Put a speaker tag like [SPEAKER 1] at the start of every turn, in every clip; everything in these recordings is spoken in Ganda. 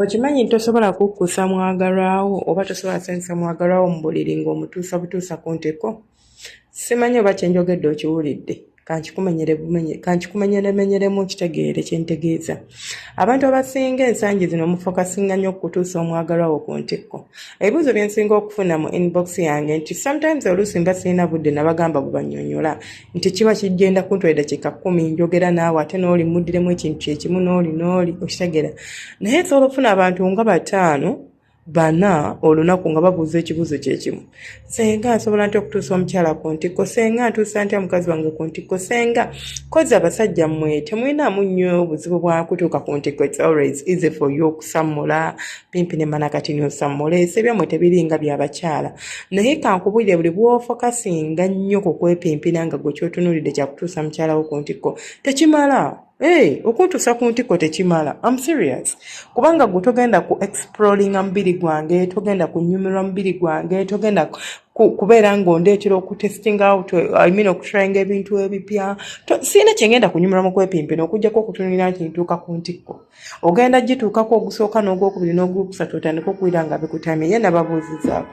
[SPEAKER 1] okimanyi nti tosobola kukkusa mwagalwawo oba tosobola sanyusa mwagalwawo mu buliri ng'omutuusa butuusa ku nteko simanyi oba kyenjogedde okiwulidde kankikumenyeremenyeremu nkitegeere kyentegeeza abantu abasinga ensangi zino mufokasinga nnyo okutuusa omwagalwa wo ku ntikko ebibuuzo byensinga okufuna mu inbox yange nti sometimes oluusi mba sirina budde nabagamba bubanyonyola nti kiba kigenda kuntwalira kika kumi njogera naawe ate nooli muddiremu ekintu kyekimu nooli nooli okitegeera naye nsobola okufuna abantu nga bataano bana olunaku nga babuuza ekibuuzo kyekimu senga nsobola ntya okutuusa omukyala ku ntikko senga ntuusa ntya mukazi wange ku ntikko senga kozi abasajja mmwe temulinamu nnyo obuzibu bwakutuuka ku ntikko its always easy for you okusammula pimpi ne mana kati niosammula ese byammwe tebiringa byabakyala naye kankubulire buli bwofokasinga nnyo ku kwepimpina nga gwe kyotunulidde kyakutuusa mukyalawo ku ntikko tekimala Hey, okuntuusa ku ntikko tekimala am serious kubanga gwe togenda ku exploringa mubiri gwange togenda kunyumirwa mubiri gwange togenda kubeera ng'ondeetera okutesting out I mean okutrayinga ebintu ebipya sirina kyengenda kunyumira mu kwepimpina okujjako okutunulira nti ntuuka ku ntikko ogenda gituukako ogusooka n'ogwokubiri n'ogwokusatu otandika okuwira nga bikutamye ye nababuuzizaako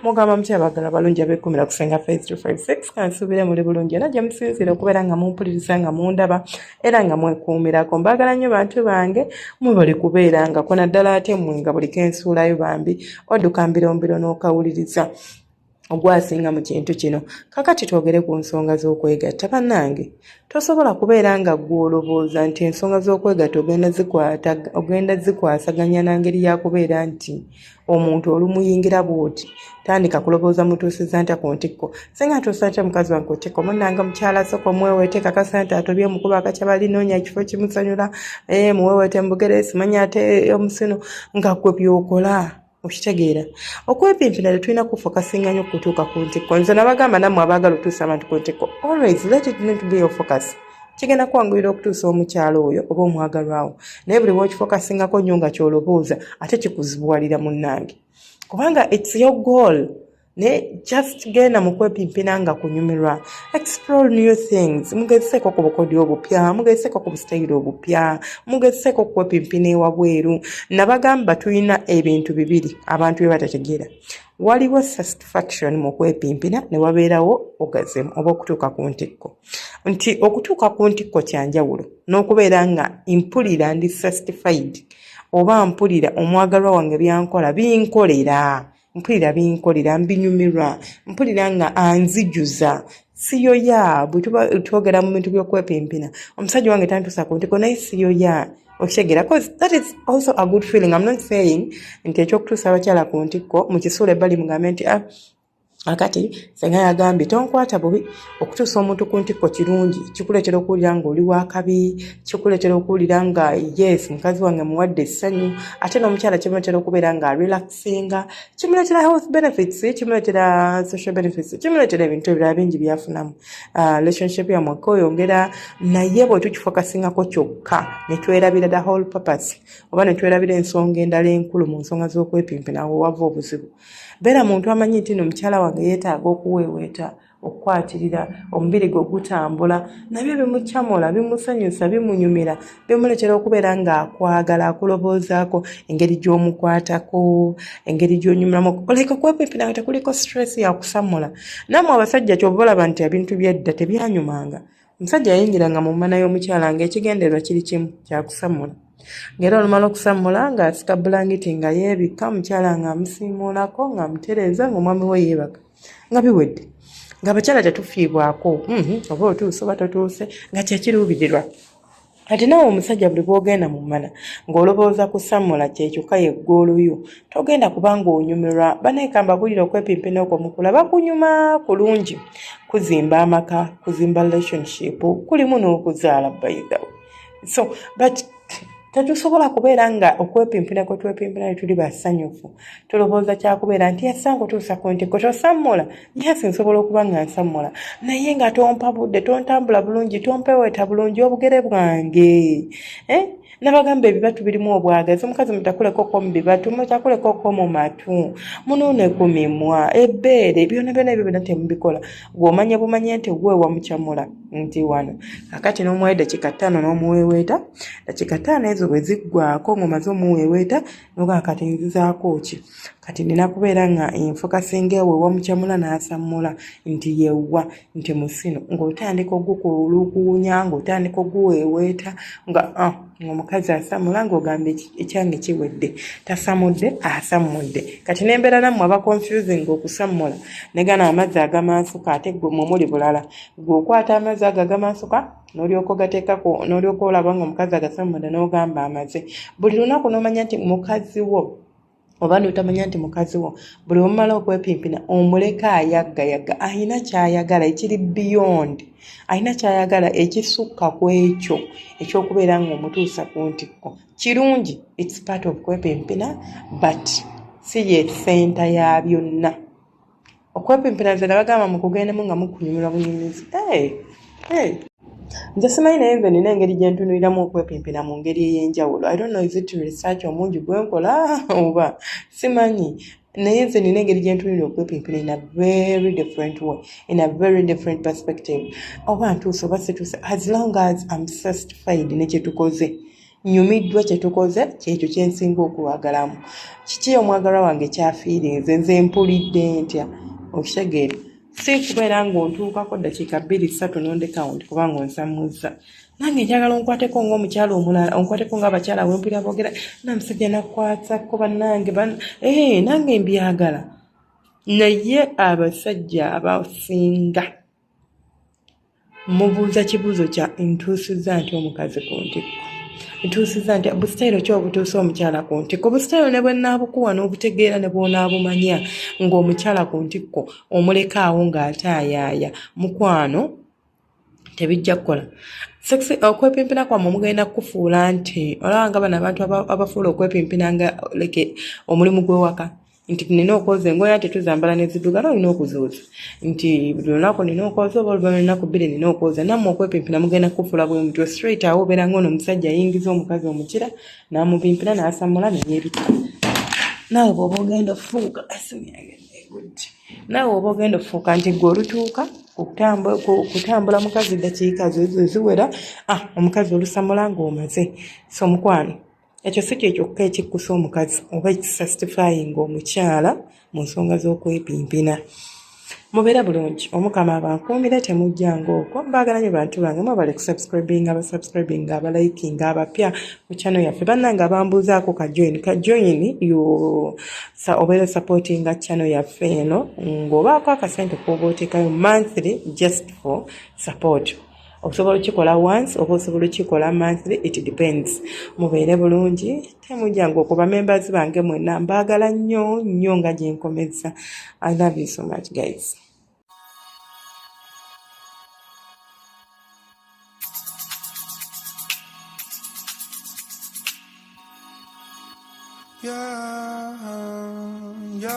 [SPEAKER 1] mugamba mutya abagala balungi abekumira kusenga fe 356 kansuubire muli bulungi era gye musinziira okubeera nga mumpuliriza nga mundaba era nga mwekuumirako mbaagala nnyo bantu bange mwebali kubeera nga kona ddala ate mwe nga buli kensuulayo bambi odduka mbirombiro n'okawuliriza ogwasinga mu kintu kino kakati twogere ku nsonga z'okwegatta bannange tosobola kubeera nga ggwe olowooza nti ensonga z'okwegatta ogenda zikwasaganya na ngeri ya kubeera nti omuntu olumuyingira bwoti tandika kulowooza mutuusiza ntya ku ntikko singa ntuusa ntya mukazi wange kutikko munanga mukyala soko mweweete kakasa nti atobye omukuba akakya balinoonya ekifo kimusanyula eh, muweweete mubugere simanya ate omusino nga gwe byokola okitegeera okwepimpina tetulina kufokasinga nyo kutuuka ku ntikko nze nabagamba nammwe abaagala otuusa abantu ku ntikko always let it not be your focus kigenda kwanguyira okutuusa omukyalo oyo oba omwagalwawo naye buli wokifokasingako nnyo nga kyolobooza ate kikuzibuwalira munnange kubanga its your goal naye just genda mu kwepimpina nga kunyumirwa explore new things mugezeseeko ku bukodi obupya mugezeseeko ku busitayiro obupya mugezeseeko okukwepimpina ewabweru nabagamba tulina ebintu bibiri abantu bye batategeera waliwo satisfaction mu kwepimpina ne wabeerawo ogazemu oba okutuuka ku ntikko nti okutuuka ku ntikko kyanjawulo n'okubeera nga mpulira ndi sastified oba mpulira omwagalwa wange byankola binkolera mpulira binkolera mbinyumirwa mpulira nga anzijuza siyoya bwetuba twogera mu bintu byokwepimpina omusajja wange tantuusa ku ntiko naye siyoya okitegeera bcause that is also a good feeling im not saying nti ekyokutuusa abakyala ku ntikko mukisuula ebbali mugambe nti ah, akati senga yagambye tonkwata bubi okutuusa omuntu ku ntikko kirungi kikuleetera okuwulira nga oli wakabi kikuleetera okuwulira nga yes mukazi wange muwadde essanyu ate n'omukyala kimuleetera okubeera nga relaxinga kimuleetera health benefits kimuleetera social benefits kimuleetera ebintu ebirala bingi byafunamu ah, relationship yamweka oyongera naye bwe tukifokasingako kyokka ne twerabira the whole purpose oba ne twerabira ensonga endala enkulu mu nsonga z'okwepimpinawo wava obuzibu beera muntu amanyi nti no mukyala wange yeetaaga okuweeweeta okukwatirira omubiri gwe gutambula nabyo bimucamula bimusanyusa bimunyumira bimuleetera okubeera ng'akwagala akuloboozaako engeri gy'omukwatako engeri gy'onyumiramu oleka kwepepera nga tekuliko stress yakusamula naamwe abasajja kyova olaba nti ebintu byedda tebyanyumanga Omusajja yayingiranga mu mmana y'omukyala ng'ekigendererwa kiri kimu kya kusammula. Ng'era olumala okusammula ng'asika bbulangiti nga yeebikka, omukyala ng'amusiimuulako, ng'amutereeza, ng'omwami we yeebaka. Nga biwedde. Ng'abakyala tetufiibwako. Mm-hmm. Oba otuuse oba totuuse nga kye kiruubirirwa. kati nawe omusajja buli bwogenda mu mmana ng'olobooza kusammula kyekyokka ye ggooluyo togenda kubanga onyumirwa banaekamba bulira okwepimpina okwo mukulaba kunyuma kulungi kuzimba amaka kuzimba relationship kulimu n'okuzaala bayidawo so but tetusobola kubeera nga okwepimpina kwetwepimpina netuli basanyufu tulowooza kyakubeera nti esango tuusa ku nti kwe tosammula yes nsobola okuba nga nsammula naye nga tompa budde tontambula bulungi tompeweeta bulungi obugere bwange eh? nabagamba ebibatu birimu obwagazi omukazi mutakulekoko mu bibatu mutakulekoko mu matu munuune ku mimwa ebbeere byona byona ebyo byona temubikola gweomanya bumanye nti gwe wamucamula nti wano akati n'omuwayo dakika ttaano n'omuweeweeta dakika ttaano ezo bwe ziggwako ng'omaze omuweeweeta noga kati nzizaako ki kati nina kubeera nga enfuka singa ewe wamucamula n'asammula nti yewwa nti musino ng'otandika ogukuulukuwunya ng'otandika oguweeweeta nga ah, ngaomukazi asamula ng'ogamba ekyange kiwedde tasamudde asammudde kati nembeera nammwe aba confusing okusammula negana amazzi agamansuka ate gwe mwe muli bulala gwe okwata amazzi ago agamansuka n'olyoka ogateekako n'olyoka olaba nga omukazi agase munda n'ogamba amaze buli lunaku n'omanya nti mukazi wo oba notamanya nti mukazi wo buli omumala okwepimpina omuleka ayaggayagga alina kyayagala ekiri beyond alina kyayagala ekisukka ku ekyo ekyokubeera nga omutuusa ku ntikko kirungi its part of kwepimpina but si ye senta ya byonna okwepimpira nze nabagamba mukugendemu nga mukunyumirwa bunyumizi nze simanyi naye nze nina engeri gyentunuliramu okwepimpira mu ngeri ey'enjawulo i don't know is it research omungi gwenkola oba simanyi naye nze nina engeri gyentunulira okwepimpira in a very different way in a very different perspective oba ntuuse oba situuse as long as am satisfied nekyetukoze nyumiddwa kye tukoze kyekyo kye nsinga okwagalamu kiki omwagalwa wange kyafiirinze nze mpulidde ntya okitegeera si kubeera ng'ontuukako ddakiika bbiri ssatu nondekawo nti kubanga onsamuzza nange njagala onkwateko ngaomukyala omulala onkwateko nga abakyala wempulira boogera namusajja nakwatako bannange eh, nange mbyagala naye abasajja abasinga mubuuza kibuuzo kya ntuusizza nti omukazi ku ntikko ntuusizza nti busitayiro ki obutuusa omukyala ku ntikko busitayiro ne bwenaabukuwa n'obutegeera ne bwonaabumanya ng'omukyala ku ntikko omuleka awo ng'ataayaaya mukwano tebijja kukola sexy uh, okwepimpina kwamwe mugenda kukufuula nti olaba nga bano abantu abafuula okwepimpina nga leke omulimu gw'ewaka nti nina okwoza engoye ate tuzambala nezidugala olina okuzooza nti buli lunaku nina okwoza oba oluva lunaku bbiri nina okwoza nammwe okwepimpina mugenda kufula bwe mutyo straight awo obeera nga ono omusajja ayingiza omukazi omukira namupimpina nasamula neyebita naawe bwoba ogenda ofuuka asumyagenegudde naawe oba ogenda ofuuka nti gwe olutuuka okutambula mukazi dakiika ziwera ah, omukazi olusamula ngaomaze so mukwano ekyo si kye kyokka ekikkusa omukazi oba ekisastifayinga omukyala mu nsonga z'okwepimpina mubeere bulungi omukama abankuumire temujjanga okwo mbaagala nyo bantu bange mwebale kusubscribinga abasubscribinga abalikinga abapya ku channel yaffe bannange abambuuzaako kajoin kajoin obeera supportinga channel yaffe eno ng'obaako akasente kooba oteekayo monthly just for support osobola okikola once oba osobola okikola monthly it depends mubeere bulungi temujanga okuba members bange mwena mbaagala nnyo nnyo nga gyenkomezza i love you so much guys Yeah, yeah.